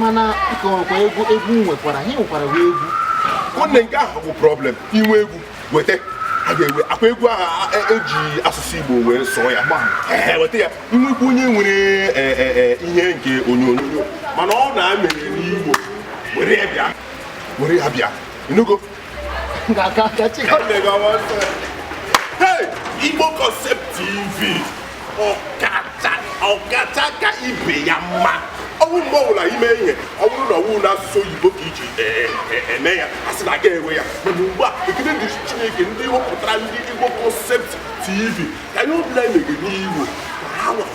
mana ịkọwakwa egwu egwu nwekwara i nwekwara egwu nwanne nke ahụ bụ problem i nwee egwu weta a ga-ewe akwa egwu ahụ e ji e asụsụ Igbo wee sụọ ya weta ya nwekwa onye nwere e, e, ihe nke onyonyo mana ọ na-emere n'Igbo were ya bịa were ya bịa ị nụgo ga-aka ka chi Igbo Concept TV ọkacha ọkacha ka ibe ya mma ọ wụ mgbe ọbụla i mee ihe ọ bụrụ na ọ wụ n'asụsụ oyibo ka e ji e, e, eme ya a sị na a ga-enwe ya mana ugbu a ekele dịrị Chineke ndị wepụtara ndị Igbo Concept TV ka ihe ọbụla e mege n'Igbo ka ha nwere